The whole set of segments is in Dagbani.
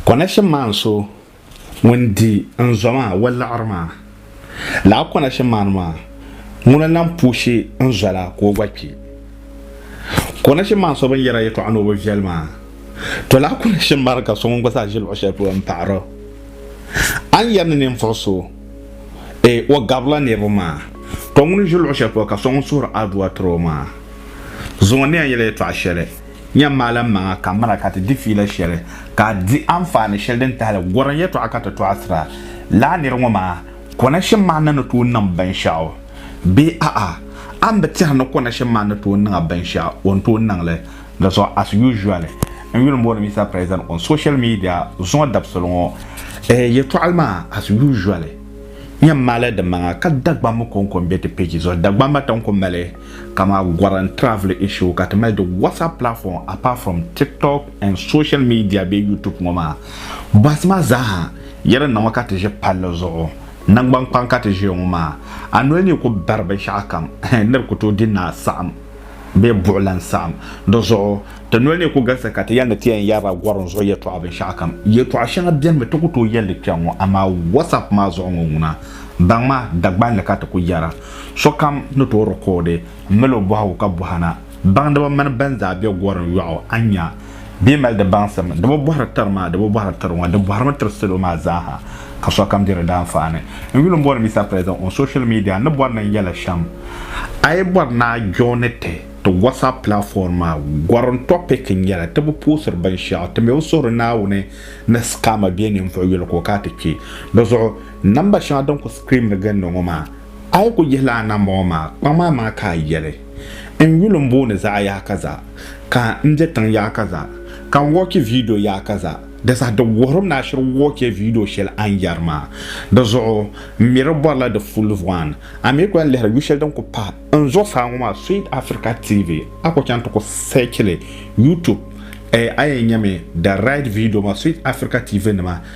Kɔnashim maa n so ŋun di n zɔ maa waliɣiri maa. Lala kɔnashim maa ni maa, ŋuna lan puushi n zɔ la ka o gba kpi. Kɔnashim maa n so bɛn yɛra yɛtɔɣa ni o bi viɛli maa. To lala kɔnashim maa ni ka so ŋun gba zaa ʒi luɣ shɛli polo n paɣir o. A ni yɛri ni ninvuɣ so, e, o gabirila niriba maa, to ŋuni ʒi luɣ shɛli polo ka so ŋun suhiri adua tiri o maa, zaŋ o ni yɛn yɛli yɛtɔɣa shɛli. Nyam maaliŋmaŋa ka mira ka ti di fiila shɛli ka a di anfaani shɛli din tahili gɔrim yɛtɔɣa ka ti tɔɣisira. Lala nir ŋɔ maa, kɔnashim maa na ni tooi niŋ binshɛɣu bee a'a? A ni bi tɛhi ni kɔnashim maa ni tooi niŋ a binshɛɣu o ni tooi niŋ li? Di zuɣu as usually, n yuli m-booni Mister President on social media zuŋɔ dabisili ŋɔ eh yɛtɔɣili maa as usually, Nyam maalidinmaŋa ka Dagbamba kɔŋko m-be ti page zuɣu. Dagbamba tiŋ ku mali. Kama goran travel issue ka ti mali di WhatsApp platform apart from TikTok and social media bee YouTube ŋɔ maa. Bɔhisi ma zaaha yɛli naŋɔ ka ti ʒi palli zuɣu. Naŋgban kpaŋ ka ti ʒiya ŋɔ maa. A noli ni yi ku bari binshɛɣu kam hɛn nir ku tooi di naa saɣim bee buɣilan saɣim. Di zuɣu ti noli ni ku galisi ka ti yɛli ni ti yɛn yɛrila gorim zuɣu yɛtɔɣa binshɛɣu kam. Yɛtɔɣa shɛŋa benimi ti ku tooi yɛli li kpɛŋ ŋɔ amaa WhatsApp maa zuɣu ŋɔ ŋuna. Baŋ ma, Dagbanli ka ti ku yɛra. Sokam ni tooi rikoodi m-mali o bɔhigu ka bɔhi na, baŋdiba mini bɛn zaa be gorim yɔɣu, a ni nya bɛ ni mali di baŋsim, di bi bɔhiri tiri ma, di bi bɔhiri tiri ŋɔ, di bɔhirimi tiri salo maa zaa ha ka sokam diri di anfaani. N yuli m-booni Mister President on social media ni bɔri ni n yɛla shɛm, a yi bɔri ni a joini ti ti WhatsApp platform maa, gorim topic n-nyɛla, ti bi puhusiri binshɛɣu, ti mi bi suhiri Naawuni ni scammer bɛ ninvuɣ yuli ka o ka ti kpe di zuɣu. Namba shɛŋa din ku screamdi ginda ŋɔ maa, a yi ku yihila a namba ŋɔ maa, kpaŋ maa maa ka a yɛli, N yuli m-booni zaɣ yaɣa kaza, ka n be tiŋ yaɣa kaza, ka n wɔchi viidiyo yaɣa kaza. Di saha di wuhirim ni a shiri wɔchi viidiyo shɛli a ni yɛri maa. Di zuɣu m mi di bɔrila di full one. A mi ku yɛn lihiri yu shɛli din ku pa n zuɣusaa ŋɔ maa, Sweet Africa TV, a ku chaŋ ti ku search li YouTube, a yɛn nyami the right viidiyo maa, Sweet Africa TV nima.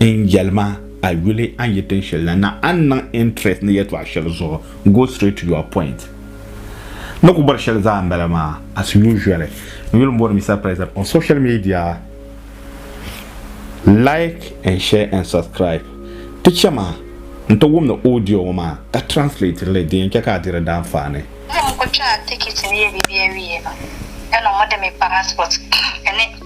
N yɛli ma, a yuli a ni yi tin shɛli la, na a ni niŋ interest ni yɛtɔɣ shɛli zuɣu, go straight to your point. Ni ku bɔri shɛli zaa m-bala maa, as usually. N yuli m-bɔri Mister President on social media, like and share and subscribe. Ti chɛ ma n ti wumdi audio ŋɔ maa ka translate li di yɛn chɛ ka a diri danfaani. N ni ku kpe a tikiti ni yɛ bibiɛwiɛ maa, ka niŋ ma di mi passport ni.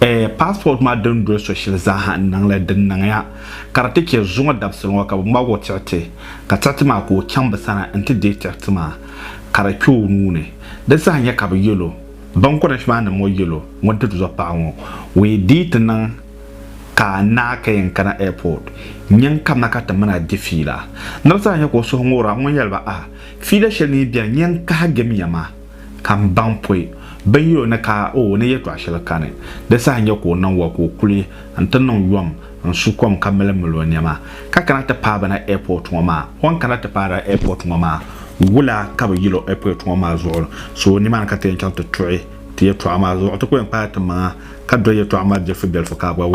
Eh, passport maa din doli so shɛli zaaha n niŋ li, di niŋya ka di ti chɛ zuŋɔ dabisili ŋɔ ka bɛ ŋmag o tiɣiti, ka tiɣiti maa ka o chaŋ bɛ sani n-ti deei tiɣiti maa ka di kpe o nuu ni. Di saha nya ka bɛ yɛl o, Binkɔnɛsh maa ni mo yɛl o, ŋun ti zo paɣa ŋɔ, o yi dii ti niŋ ka naa ka yɛn kana airport, nya n-kabina ka ti mini a di fiila. Ni bɛ saha nya ka o suhu ŋoor a ŋun yɛl ba, Ah, fiila shɛli mi beni, nya n-kahigim ya maa. Ka m baŋ pɔi bɛ yuli ni ka o ni yɛtɔɣ shɛli kani, di saha n-nyɛ ka o niŋ wa ka o kuli nti niŋ yom n-su kom ka mili mil o nɛma ka kana ti paai ba na airport ŋɔ maa. O ni kana ti paai ba airport ŋɔ maa, wula ka bi yil o airport ŋɔ maa zuɣu so nimaani ka ti yɛn chaŋ ti tuɣi ti yɛtɔɣa maa zuɣu? Ti ku yɛn kpaai ti maŋa ka do yɛtɔɣa maa bilifu bilifu ka a gba wum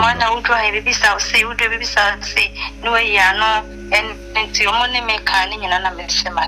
ba.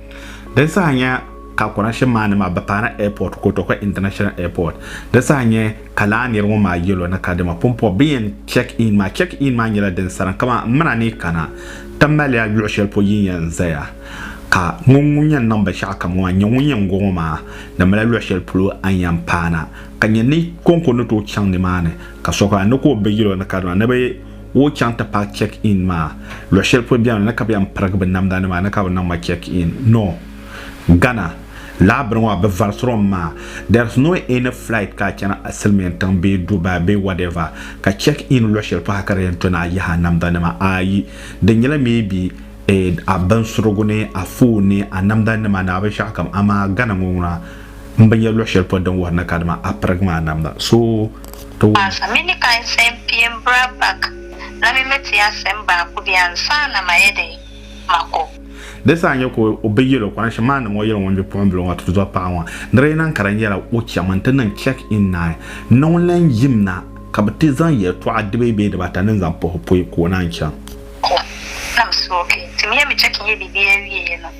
Din saha nyɛ ka connection maa ni maa bi paana airport Kotokwe International Airport. Di saha nyɛ ka laa niri ŋɔ maa yɛl o ni ka dama pumpɔbi bɛ yɛn check in maa. Check in maa nyɛla din saran kaman m mina ni kana ti maliya luɣ shɛli pɔ yin yɛn zaya ka ŋun ŋun yɛn niŋ binshɛɣu kam ŋɔ maa nyɛ ŋun yɛn go ŋɔ maa di mali luɣ shɛli polo a ni yɛn paana ka nyɛ ni konko ni tooi chaŋ ni maa ni ka sokam ni ka o bi yɛl o ni ka dama ni bi Ka o chaŋ ti paaki check in maa luɣi shɛli polo bɛni na ka bɛ yɛn pirigi bɛ namda nima ni ka bɛ niŋ ma check in no Ghana lahabiri ŋɔ bɛ varisiri o maa there's no any flight ka a chana a silimiin tiŋ bee Dubai bee whatever ka check in luɣi shɛli polo ha ka di yɛn to ni a yihi a namda nima ayi di nyɛla maybe eh a binsurigu ni a phone ni a namda nima ni a binshɛɣu kam amaa Ghana ŋɔ na m bi nya luɣi shɛli polo din wuhiri ni kadama a pirigi maa namda so Di saa n-nyɛ ka o bi yɛl o kɔrɛnshim maa niŋ o yɛli ŋun bipuɣimbila ŋɔ tuzo paɣa ŋɔ ni di yi niŋ ka di nyɛla o cham nti niŋ check-in naai ni ŋun lan yim na ka bɛ ti zaŋ yɛltɔɣa dibei bee dibaata ni zaŋ puhi pui ka o naan chaŋ.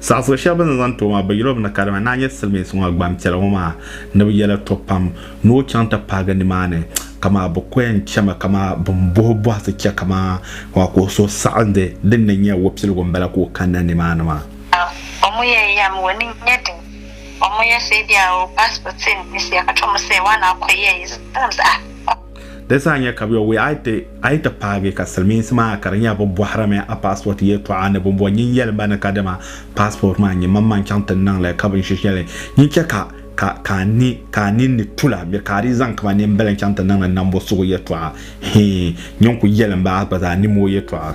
Saɣisiri shɛli bɛ ni zaŋ ti o maa, bɛ yɛl o mi ni kadama ni a nya Silimiinsi ŋɔ gbampiɛla ŋɔ maa ni bɛ yɛla to pam ni o chaŋ ti paagi nimaani, kamaa bɛ ko yɛn chɛma kamaa bɛn bohi bɔhisi chɛ kamaa ka o so saɣindi din ni nya Wapiligu m-bala ka o kanna nimaani maa. Omu ya yam wo ni nya din omu ya sɛ bia o pass po tin ni sia ka to mu sɛ wa na ko ya yi zaŋ zaɣa. Di zaa nya ka bɛ yo wuya a yi ti paagi ka silimiinsi maa ka di nya bɛ bɔhirimi a paasipɔti yɛltɔɣa ni bɛ bɔ nyin yɛli ba ni ka dama paasipɔti maa n-nyɛ mammaŋ chaŋ ti niŋ li ka binshiri shɛli nyin chɛ ka ka a ninni tu la bɛ ka a dii zaŋ kama nimbila n-chaŋ ti niŋdi nambo sugu yɛltɔɣa hii nyin ku yɛlim ba a gba zaa ni mooi yɛltɔɣa.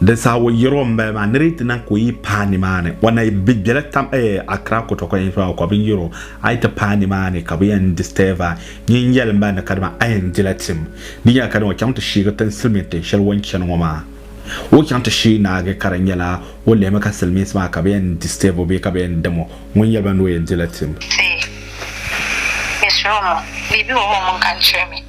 Di saha o yɛri o m-bali maa ni di yi ti niŋ ka o yi paai nimaani, o na bi bela tam eh Accra Kotoko infra o ka bɛ yɛri o a yi ti paai nimaani ka bɛ yɛn disturb a. Nyin yɛli m-bali ni kadama a yɛn dila tim. Di nyɛla kadama o chaŋ ti shiigi tin silimiin tin shɛli o ni chani ŋɔ maa. O ni chaŋ ti shiigi naagi ka di nyɛla o lihimi ka silimiinsi maa ka bɛ yɛn disturb o bee ka bɛ yɛn dim o. Ŋun yɛli ba ni o yɛn dila tim. Ti, Miss Romo, bɛ bi o o mini ka n chirimi.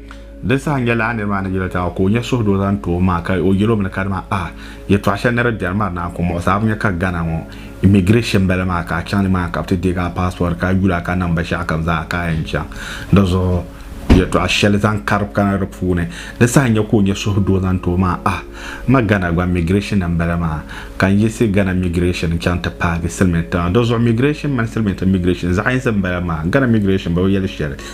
Di saha n-yɛli a nir maa ni yɛl taba ka o nya suhudoo zaŋ ti o maa ka o yɛl o mi ni kadama a yɛtɔɣ shɛli ni di biɛri mari naa ka o muɣisi a bi nya ka Ghana ŋɔ immigration bela maa ka a chaŋ ni maa ka bɛ ti deeg a passport ka yuli a ka niŋ binshɛɣu kam zaa ka a yɛn chaŋ di zuɣu yɛtɔɣ shɛli zaŋ kari kana di puuni. Di saha n-nya ka o nya suhudoo zaŋ ti o maa a ma Ghana gba immigration ni m-bala maa ka n yiɣisi Ghana immigration n-chaŋ ti paagi silimiin tiŋa di zuɣu immigration mini silimiintiŋ immigration zaɣ yinsi m-bala maa Ghana immigration bi yɛli shɛli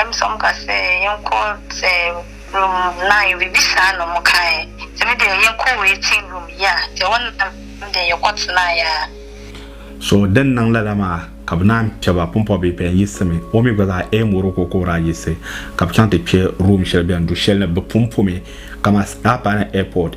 Em som ka se yen ko se lum nai bi bi saa nom kai se mi de yen ko we ting lum ya te o nam de ye ko ti na ya. So din niŋ lala maa ka bɛ naan kpe ba pumpɔbi pɛn yiɣisimi o mi gba zaa Em woro ka o ko daa yiɣisi ka bɛ chaŋ ti kpe room shɛli bɛn du shɛli ni bɛ pun pomi kaman Apa ni Airport.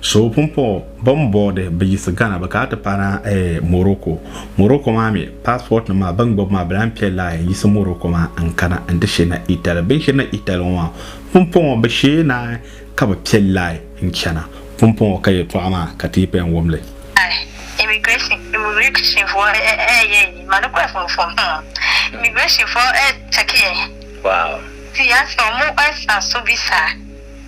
So pumpɔŋɔ bɛn boodi bɛ yiɣisi Ghana bɛ kana ti paana Morocco. Morocco maa mi passport nim maa bɛn gbubi maa bɛ lahi pɛ line n yiɣisi Morocco maa n kana n ti shirina Italy. Bɛn shirina Italy ŋɔ maa pumpɔŋɔ bɛ shee naai ka bɛ pɛ line n chana. Pumpɔŋɔ ka yɛltɔɣa maa ka ti yi pɛn wum li. Immigration fo eeii mani kwe fo fo hmm Immigration fo eeii checking Wow. Ti ya so mu esa su bisa.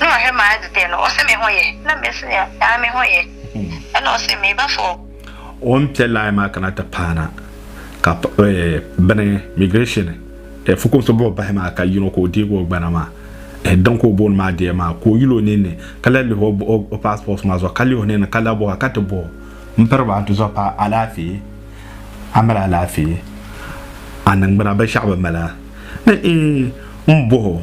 Nɔhi maa di dee nuɣisi mi ho yihi ni mɛsiya daa mi ho yihi ni nuɣisi mi ba foo. O ni pɛ laai maa kana ti paana ka bini migration fukumsi buɣi bahi maa ka yino ka o deegi o gbana maa din ka o booni maa dee maa ka o yuli o ninni ka lahi lihi o passport maa zuɣu ka lihi o ninni ka lahi bɔhi ka ti bɔ m piriba n ti zuɣu pa alaafee a mali alaafee a niŋgbuna binshɛɣu bi mali a ni n bɔhi o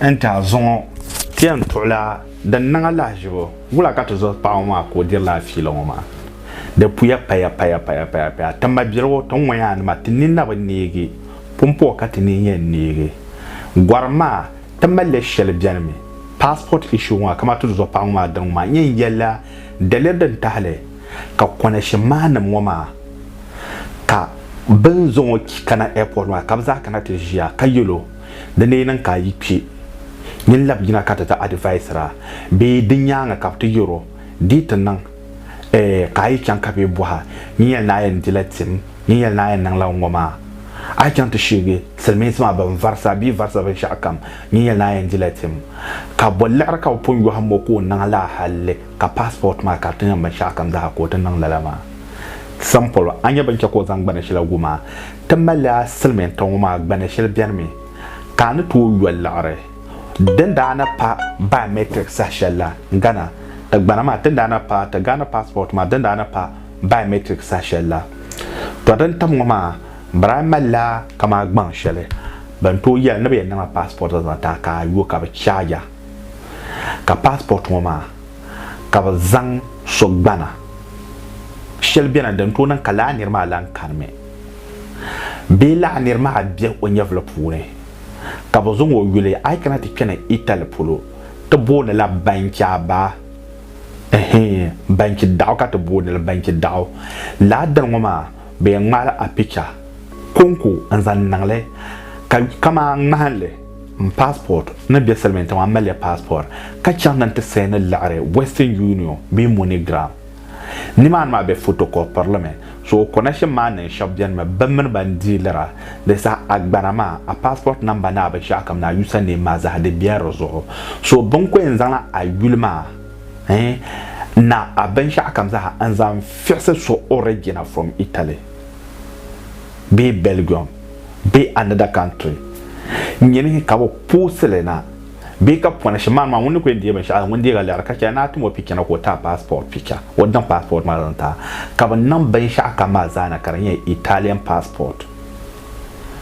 n ti a zuŋɔ. Ti yɛn tuɣila din niŋ a lahiʒibu wula ka ti zuɣu paɣ ŋɔ maa ka o diri la a fiila ŋɔ maa? Di puya paya paya paya paya paya. Ti mabiligu ti ŋɔya a nima ti ninna bi neegi, pumpɔɣu ka ti nin yɛn neegi. Gɔrim maa, ti mali li shɛli bɛni mi, passport issue ŋɔ kamani ti zuɣu paɣ ŋɔ maa diri ŋɔ maa n yɛn yɛli la daliri din tahili ka connection maa nim ŋɔ maa ka bɛ ni zaŋ o kana airport maa ka bɛ zaa kana ti ʒiya ka yɛl o Di lee niŋ ka a yi kpi, nyin lab yina ka ti ti adivaisiri a, bee di nyaŋa ka bɛ ti yɛr o, Di ti niŋ, ɛɛh, ka a yi chaŋ ka bɛ bɔh a, Nyin yɛli ni a yɛn dila tim? Nyin yɛli ni a yɛn niŋla ŋɔ maa? A yi chaŋ ti shiigi Silimiinsi maa bɛn varisi a bee varisi binshɛɣu kam, nyin yɛli ni a yɛn dila tim? Ka bɔ liɣiri ka bɛ pun yɔhim o ka o niŋ lala hal ka passport maa ka di ti niŋ binshɛɣu kam zaa ka o ti niŋ lala maa? Simple, a nya bɛn chɛ ka o zaŋ gbana shɛla wum a? Ti mali a silimiintiŋ ŋɔ maa gbani shɛli beni mi ka a ni tooi yo liɣiri. Din daa na pa biometric saha shɛli la Ghana ti gbana maa ti ni daa na pa ti Ghana passport maa din daa na pa biometric saha shɛli la. To din tam ŋɔ maa biraai mali la kamaa gbaŋ shɛli bɛn tooi yɛli ni bɛ yɛn niŋ a passport zaŋ ti a ka a yo ka bɛ charge a ka passport ŋɔ maa ka bɛ zaŋ so gbana shɛli beni din tooi niŋ ka lala niri maa lahi kani mi. bee laɣ nir maa bɛ o nyɛvili puuni ka bɛ zaŋ o yuli a yi kana ti kpɛni Itali polo ti boonila Banciaba, ɛhɛn, Bancidaɣu ka ti boonili Bancidaɣu. Lala dini ŋɔ maa bɛ yɛn ŋmaala a picha kɔŋko n-zaŋ niŋli ka kaman ŋmahinli m passport ni be silimiintiŋ maa m mali ya passport ka chaŋ ni n ti sayini liɣiri Western Union bee MoneyGram. Nimaani maa bɛ fotokɔpirlimi, so o connection maa niŋ shɛba benimi bɛ mini ba n dealira di saha agbana maa a passport number ni a binshɛɣukam ni a user name maa zaha di bela di zuɣu so bini ko yɛn zaŋla a yuli maa ɛɛn ni a binshɛɣukam zaha n zaŋ fiɣisi so origina from Italy bee Belgium bee another country nyini ka bɛ poosili na Bee ka pɔna shɛm maa ni maa ŋun ni ku yɛn deei binshɛɣu ŋun deeg a liɣiri ka chɛ a ni a tim o picha na ka o ti a paasipɔt picha o daŋ paasipɔt maa zaŋ ti a ka bi niŋ binshɛɣu kam maa zaa na ka di nyɛ Italian paasipɔt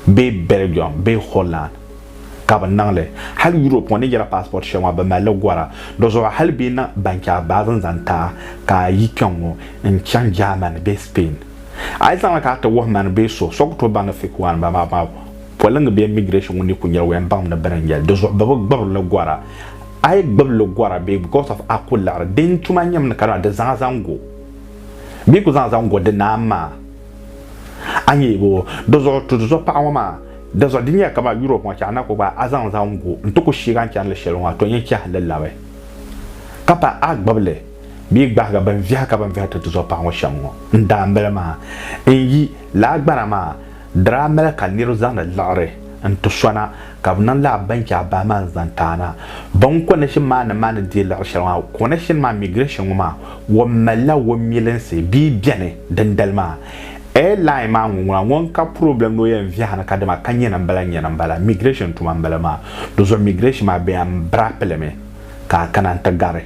bee Belgium bee Holland ka bi niŋ li hali Europe ŋɔ ni yɛra paasipɔt shɛli maa bi mali li gɔra dizuɣu hali bee niŋ banchɛɣu baazi n-zaŋ ti a ka a yi kpɛŋŋɔ n-chaŋ Germany bee Spain a yi zaŋ li ka a ti wuhi mani bee so so ku tooi baŋ ni fake one m-bala maa. Poliŋ bee migration ŋɔ ni ku nyɛla waya baŋm ni bini n-nyɛli, di zuɣu bɛ bi gbibiri li gɔra. A yi gbibi li gɔra bee because of a ku liɣiri din tuma nyɛm ni ka dama di zaŋ a zaŋ go bee ku zaŋ a zaŋ go di naan maa, a nya yi boo. Di zuɣu tuhi zuɣu paɣa ŋɔ maa, di zuɣu di nyɛla kaman Europe ŋɔ chɛŋ a na ku gbaai a zaŋ zaŋ go nti ku sheeg a ni chani li shɛli ŋɔ a tɔn yɛn chɛhi li labi ka paai a gbibi li bee gbahiga binviɛha ka bini viɛha ti ti zuɣu paɣa ŋɔ shɛm ŋɔ n daambili maa n yi laa gbana maa. Di daa mali ka nir zaŋdi liɣiri n-ti sona, ka bɛ niŋ lala bɛn chɛ a bahi maa n-zaŋ ti a na. Bɛn kɔni shini maa ni maa ni deei liɣiri shɛli maa, kɔni shini maa migration ŋɔ maa wɔm malila wɔmilinsi bee bɛni dindali maa. Airline maa ŋuŋuna ŋɔ n-ka problem ni o yɛn viɛhi ni ka dama ka nyɛna m-bala nyɛna m-bala, migration tuma m-bala maa. Di zuɣu migration maa bɛ yan bira pili mi ka a kana n-ti gari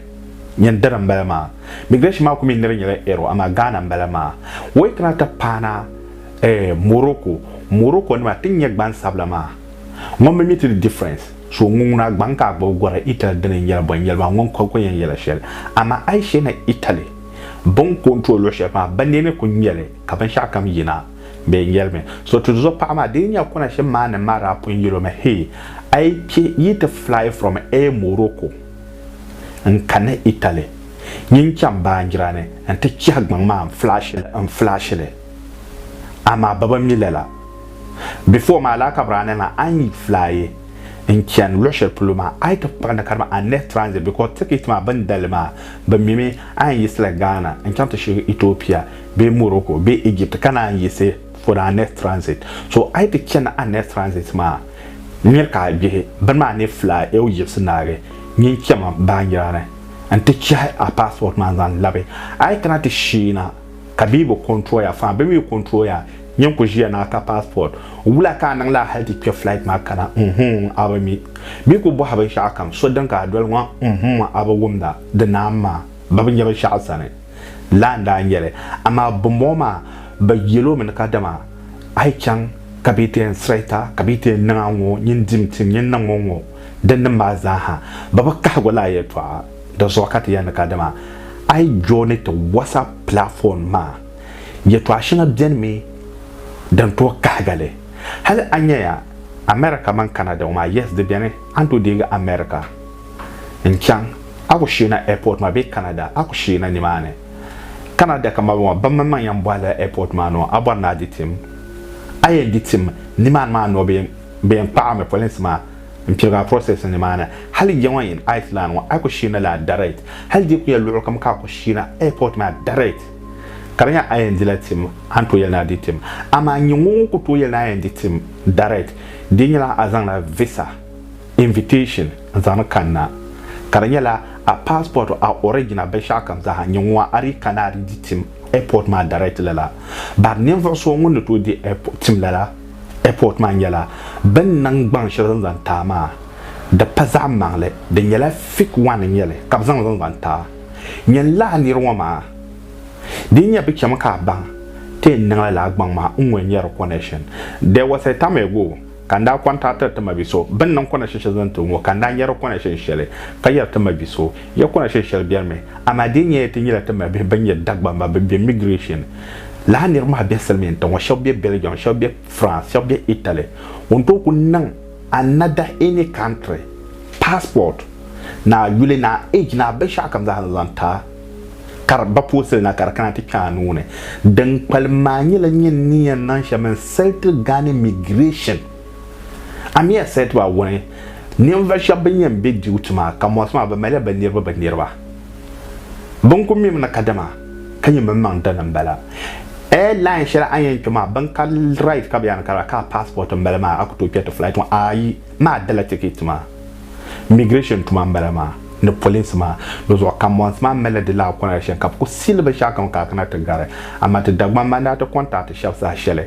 nyin dini m-bala maa. Migration maa ku mi nir nyɛla error amaa Ghana m-bala maa. Wait na ti paana. Eh Morocco Morocco nima ti nyɛ gban sabila maa ŋɔ mi mi ti di difference so ŋun ŋuna agbaŋ ka agbubi gɔri Italy dini n yɛli bɔn yɛli maa ŋɔ n ko yɛn yɛla shɛli amaa ayi shɛ ni Italy bin control luɣi shɛli maa bi neeni ku ŋmɛli ka bin shɛɣu kam yina bee n yɛli mi so ti zuɣu paɣa maa dini nyɛ kɔna shɛm maa ni maa daa pun yɛli o mi hee ayi kpɛ yi ti fly from eh Morocco n ka ni Italy nyin chaŋ baanjira ni n ti chihi gbaŋ maa n flash li n flash li. amaa bɛ bi mi lala. Before maa Laakabirane maa a ni flyi n chani luɣi shɛli polo maa a yi ti kpuɣi ni ka di mi a ni nehi transit because ticket maa bɛ ni dali maa bɛ mi mi a yɛn yiɣisila Ghana n chaŋ ti shiri Ethiopia bee Morocco bee Egypt ka naan yiɣisi for a nehi transit so a yi ti chani a nehi transit maa n miri ka a gbihi bini maa ni flyi ew yiɣisi naagi nyin chami baanjira ni n ti chehi a passport maa n zaŋ labi a yi kana ti sheei na Ka bee bi control ya faa bi mi control ya nyɛ n ku ʒiya ni a ka passport wula ka a niŋ la hali ti kpɛ flight maa kana mm-hmm a bi mi mi ku bɔhi binshɛɣu kam so din ka a doli ŋɔ mm-hmm a bi wumda di naan maa ba bi nyɛ binshɛɣu sani laa n daa nyɛli amaa binbɔŋɔ maa bi yɛl o mi ni kadama a yi chaŋ ka bee ti yɛn sirayita ka bee ti yɛn niŋ a ŋɔ nyin dim tim nyin niŋ o ŋɔ din nim maa zaa ha ba bi kahigu laa yɛltɔɣa. Di zuɣu ka ti yɛn ni ka dama a yi jooni ti WhatsApp platform maa, yɛtɔɣa shɛŋa beni mi din tooi kahiga li. Hali a nyaya America mini Canada ŋɔ maa, yes di beni, a ni tooi deegi America n-chaŋ, a ku sheena airport maa bee Canada, a ku sheena nimaani. Canada ka maligu maa, bammaŋ maŋ yɛn bɔhila airport maa ni o, a bɔri ni a di tim. A yɛn di tim nimaani maa ni o, bɛ yɛn kpaɣi a mi, polinsi maa. N pirigi a process ni maana hali ya ŋɔ in ice land ŋɔ a ku shirina laa direct hali di ku ya luɣu kam ka a ku shirina airport maa direct ka di nya a yɛn dila tim a ni tooi yɛli ni a di tim amaa n nya ŋɔ ŋɔ ku tooi yɛli ni a yɛn di tim direct di nyɛla a zaŋla visa invitation n zaŋdi kanna ka di nyɛla a passport a origin a binshɛɣu kam zaaha n nya ŋɔ a di kana a di di tim airport maa direct lala bari ninvuɣu so ŋun ni tooi di tim lala Airport maa nyɛla bini niŋ gbaŋ shɛli zaŋ zaŋ taai maa, di pa zaɣi maŋli, di nyɛla fik one n nyɛli ka bi zaŋ zaŋ zaŋ taai nyɛn laa niri ŋɔ maa, di nyɛ bi chɛmi ka a baŋ ti yɛn niŋla laa gbaŋ maa n ŋun nyɛri connection, there was a time ago ka n daa contactiri ti mabiso bini niŋ connection shɛli zaŋ ti o ŋɔ ka n daa nyɛri connection shɛli ka yɛri ti mabiso. Ya kɔna shɛli shɛli bɛrimi, amaa di nyɛla ti nyɛla ti mabihi bɛn nyɛ Dagbamba bɛn be migration laa niriba maa be silimiin tiŋɔ, shɛba be Belgium, shɛba be France, shɛba be Italy. Ŋun tooi ku niŋ another any country passport ni a yuli ni a age ni a binshɛɣu kam zaa ni zaŋ ti a ka di ba poosili na ka di kana ti kpe a nuu ni. Din kpalim maa nyɛla nyini ni yɛn niŋ shɛm n-sali ti Ghana migration. Amir said to Awuni, Ninvuɣ shɛb bɛn yɛn be dibu tuma ka mɔɣisi maa, bɛ malila bɛ niriba bɛ niriba. Bɛ ni kul mim ni kadama ka nyɛ bimaŋ dini m-bala. Air line shɛli a ni yɛn kpe maa, bɛn karili right ka bɛ yaa ni karila ka a passport m-bala maa a ku tooi kpe ti flight ŋɔ ayi. Maa dala ticket maa. Migration tuma m-bala maa ni polinsi maa ni zuɣu kam. Mɔɣisi maa malila di laakuna shɛli ka bɛ ku siili binshɛɣukam ka a kana ti gari. Amaa ti Dagbamba n-daa ti contact shɛb saha shɛli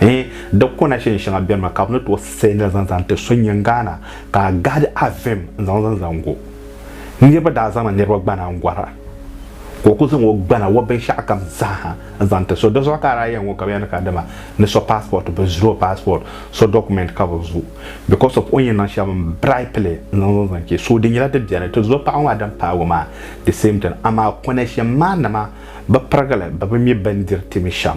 Eh, di kona shɛli shɛŋa beni maa ka bɛ ni tooi sɛ nira zaŋ zaŋ ti so nyin Ghana ka a gahidi a vim n-zaŋ zaŋ zaŋ go. Niriba daa zaŋla niriba gbana n-gɔra ka o kuli zaŋ o gbana, o binshɛɣukam zaaha n-zaŋ ti so. Di zuɣu ka a daa yɛn ŋɔ ka bɛ yɛli ni ka dama ni so passport bɛ zuri o passport, so document ka bɛ zu because of o ni yɛn niŋ shɛm bribe li n-zaŋ zaŋ zaŋ che. So di nyɛla di beni. Ti zo paɣiba maa din paagi o maa the same thing amaa kona shɛm maa nama bi pirigili bɛ bi mi bindiri ti mi shɛm.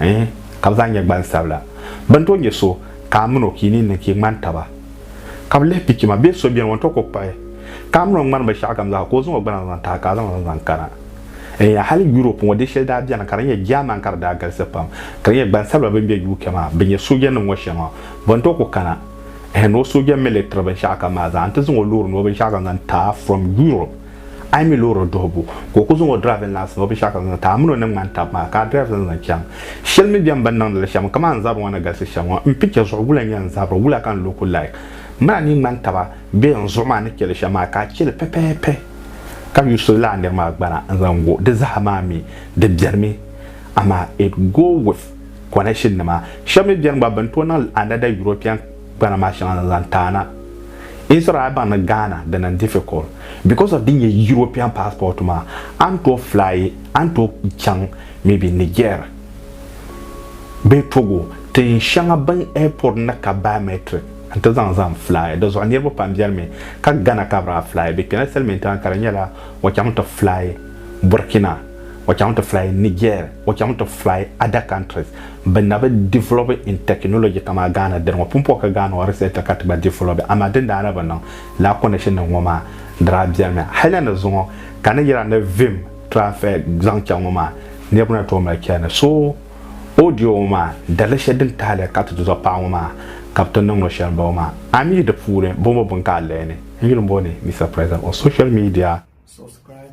eh, ka bɛ zaa nyɛ gbansabila. Bɛ ni tooi nya so ka a min o ka yi ni niŋ ka yi ŋmani taba, ka bɛ lihi pichi maa, bee so beni o ni tooi kpuɣi pahi ka a min o ŋmani binshɛɣukam zaa ka o zaŋ o gbana zaŋ tahi ka a zaŋ li zaŋ kana? Eya, hali Yurop ŋɔ di shɛli daa beni ka di nyɛ Jɛman ka di daa galisi pam, ka di nyɛ gbansabila bɛ ni be UK maa bɛ nyɛ soojanim ŋɔ shɛŋa. Bɛ ni tooi ku kana eh, ni o sooja militiri binshɛɣukam maa zaa nti zaŋ o loori ni o binshɛɣukam zaŋ taai from Yurop. A yi mi loori duhibu ka o ku zaŋ o driving license o binshɛɣu ka zaŋ ti a mini o ni ŋmani tabi maa ka a drive zaŋ zaŋ chaŋ shɛli mi bɛn bi niŋdi li shɛm kaman n zabiri ŋɔ ni galisi shɛm ŋɔ n picture zuɣu wula n-nyɛ n zabiri wula ka n looku like mini a ni yi ŋmani taba bee n zuɣu maa ni cheli shɛm maa ka a cheli pɛpɛɛpɛ ka yuusi lala nir maa gbana n zaŋ go di zaa maa mi di beni mi amaa it go with connection nima shɛb mi beni gba bɛn tooi niŋ another European gbana maa shɛŋa ni zaŋ taana Israel baŋ ni Ghana di niŋ difficult because of din nyɛ European passport maa a ni tooi fly a ni tooi chaŋ maybe Niger bee Togo tin shɛŋa bin airport ni ka biometric n ti zaŋ zaŋ fly di zuɣu niriba pam beni mi ka Ghana ka bi daa fly bɛ kpɛla settlement maa ka di nyɛla o chaŋ ti fly Burkina o chaŋ ti fly Niger, o chaŋ ti fly other countries bɛ na bi develop in technology kamaa Ghana dini ŋɔ. Pumpɔŋ ka Ghana ŋɔ research ka ti gba develop amaa din daa na bi niŋ lala connection nim ŋɔ maa di daa beni mi. Hali ni zuŋɔ ka ni yira ni vim transfer zaŋ chaŋ ŋɔ maa niriba na tooi mali chani. So audio ŋɔ maa dali shɛli din tahili ka ti ti zuɣu paɣa ŋɔ maa ka bi ti niŋ o shɛli m-bɔŋɔ maa. A mi yi di puuni bɔŋ bɔ bini ka a lihini n yuli m-bɔni Mister President on social media. Subscribe